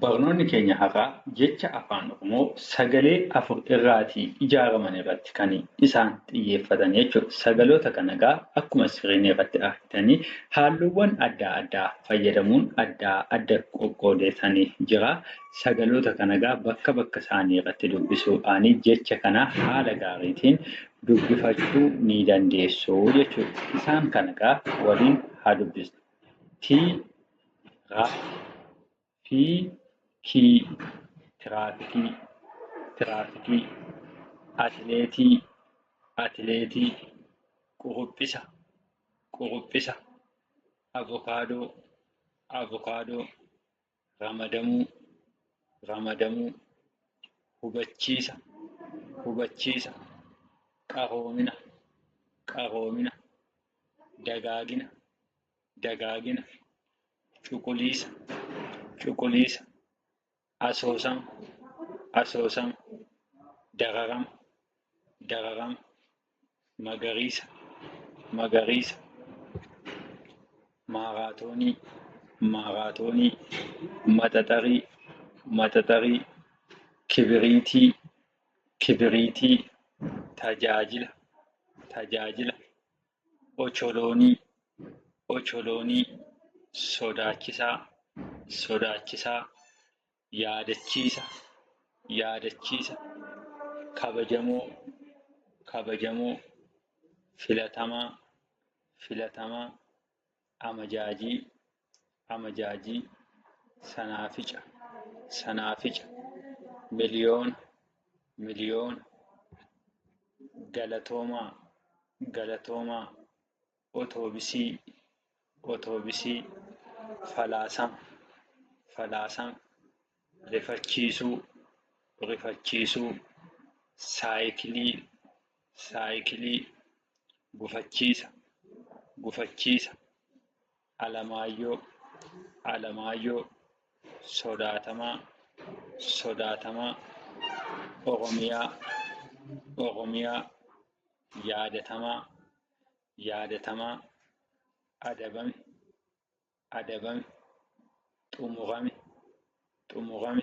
Barnoonni keenya har'aa jecha Afaan Oromoo sagalee afur irraatii ijaaraman irratti kan isaan xiyyeeffatan jechuudha. Sagaloota kana egaa akkuma screen irratti argitanii haalluuwwan addaa addaa fayyadamuun addaa adda qoqqoodeetani jira. Sagaloota kana egaa bakka bakka isaanii irratti dubbisuudhaanii jecha kana haala gaariitiin dubbifachuu ni dandeessu jechuudha. Isaan kana egaa waliin haa dubbisnu. T Ra, fi, ki, tiraafikii, tiraafikii. Atileetii, atileetii. Quruphisa, quruphisa. Avokaadoo, avokaadoo. Ramadamuu, ramadamuu. Hubachiisa, hubachiisa. Qaroomina, qaroomina. Dagaagina, dagaagina, cuquliisa, cuquliisa, asoosama, asoosama, dararama, dararama, magariisa, magariisa, maaraatoonii, maaraatoonii, maxaxarii, maxaxarii, kibiriitii, kibiriitii, tajaajila, tajaajila, ocholoonii ocholoonii sodaachisaa sodaachisaa yaadachiisa yaadachiisa kabajamoo kabajamoo filatamaa filatamaa amajaajii amajaajii sanaafica sanaafica miliyoona miliyoona galatoomaa galatoomaa otoobisii otoobisii falaasama falaasama rifachiisuu rifachiisuu saayikilii saayikilii gufachiisa gufachiisa alamaayyoo alamaayyoo sodaatamaa sodaatamaa oromiyaa oromiyaa yaadatamaa yaadatamaa adabame adabame, xumurame, xumurame.